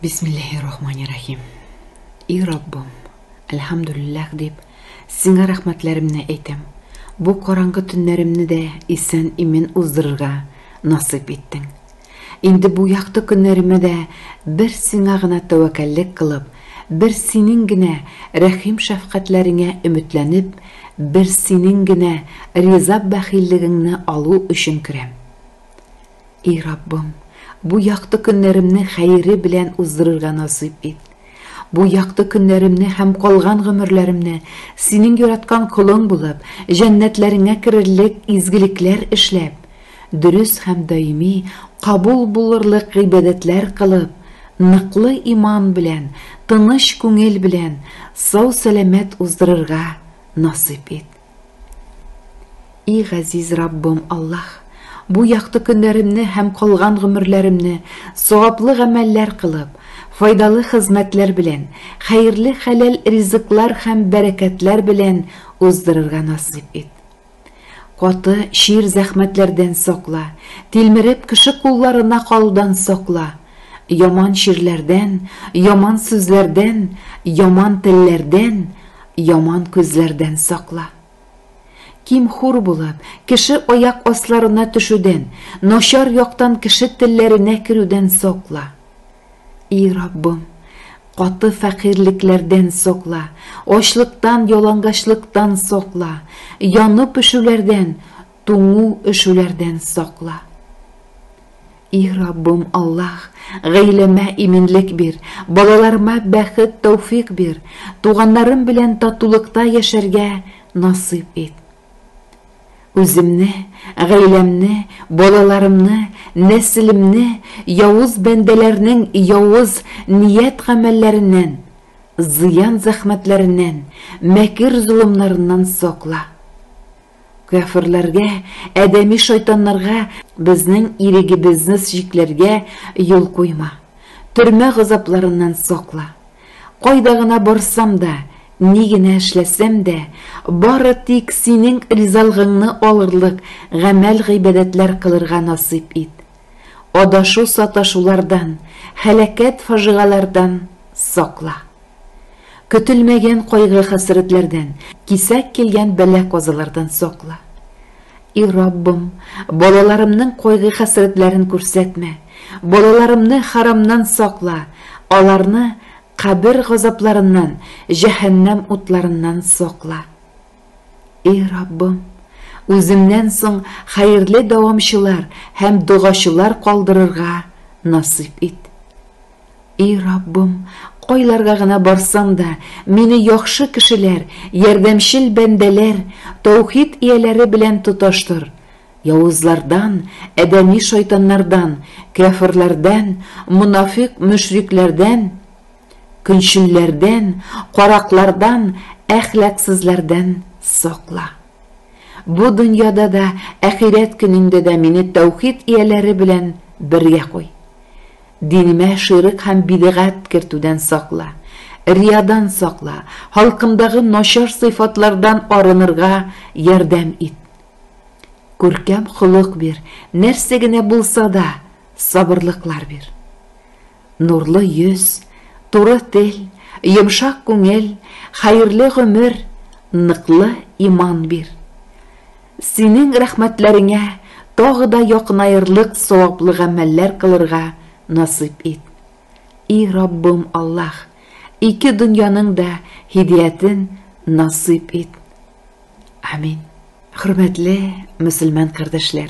Бисмилләһи-рахмани-рәхим. И Раббым, әлхәмдүлилләһ дип, Сиңа рәхмәтләремне әйтәм. Бу караңгы төннәремне дә исән-имин уздырырга насыйп иттең. Инде бу якты көннәремә дә бер Сиңа гына тәвәккәллек кылып, бер Синең генә рәхим-шәфкатьләреңә өметләнеп, бер Синең генә риза-бәхиллегеңне алу өчен керәм. И Раббым, бу якты көннәремне хәере белән уздырырга насыйп ит. Бу якты көннәремне һәм калган гомерләремне Синең яраткан колың булып, җәннәтләреңә керерлек изгелекләр эшләп, дөрес һәм даими кабул булырлык гыйбадәтләр кылып, ныклы иман белән, тыныч күңел белән, сау-сәламәт уздырырга насыйп ит. И газиз Раббым Аллаһ, бу якты көннәремне һәм калган гомерләремне саваплы гамәлләр кылып, файдалы хезмәтләр белән, хәерле хәләл ризыклар һәм бәрәкәтләр белән уздырырга насыйп ит. Каты, чир зәхмәтләрдән сакла, тилмереп кеше кулларына калудан сакла, яман чирләрдән, яман сүзләрдән, яман телләрдән, Яман күзләрдән сакла. Ким-хур булып, кеше аяк асларына төшүдән, начар яктан кеше телләренә керүдән сакла. И Раббым, каты фәкыйрьлекләрдән сакла, ачлыктан, ялангачлыктан сакла, янып-пешүләрдән, Туңу, өшүләрдән сакла. И Раббым Аллаһ, гаиләмә иминлек бир, балаларыма бәхет, тәүфик бир, туганнарым белән татулыкта яшәргә насыйп ит. Үземне, гаиләмне, балаларымны, нәселемне явыз бәндәләрнең явыз ният-гамәлләреннән, зыян-зәхмәтләреннән, мәкер-золымнарыннан сакла. Кяферләргә, адәми шайтаннарга безнең ирегебезне чикләргә юл куйма. Төрмә газапларыннан сакла. Кайда гына барсам да, ни генә эшләсәм дә, бары тик Синең ризалыгыңны алырлык гамәл-гыйбадәтләр кылырга насыйп ит. Адашу-саташулардан, һәлакәт-фаҗигаләрдән сакла. Көтелмәгән кайгы-хәсрәтләрдән, кисәк килгән бәла-казалардан сакла. И Раббым, балаларымның кайгы-хәсрәтләрен күрсәтмә, балаларымны харамнан сакла, аларны кабер газапларыннан, җәһәннәм утларыннан сакла. И Раббым, үземнән соң хәерле дәвамчылар һәм догачылар калдырырга насыйп ит. И Раббым, кайларга гына барсам да, мине яхшы кешеләр, ярдәмчел бәндәләр, таухид ияләре белән тоташтыр, явызлардан, адәми шайтаннардан, кяферләрдән, монафикъ-мөшрикләрдән, Көнчелләрдән, караклардан, әхлаксызлардан сакла. Бу дөньяда да, әхирәт көнендә дә мине тәүхид ияләре белән бергә куй. Динемә ширек һәм бидгать кертүдән сакла, риядан сакла, халкымдагы начар сыйфатлардан арынырга ярдәм ит. Күркәм холык бир, нәрсә генә булса да, сабырлыклар бир. Нурлы йөз, туры тел, йомшак күңел, хәерле гомер, ныклы иман бир. Синең рәхмәтләреңә тагы да якынаерлык саваплы гамәлләр кылырга насыйп ит. И Раббым Аллаһ, ике дөньяның да һидиятен насыйп ит. Амин. Хөрмәтле мөселман кардәшләр!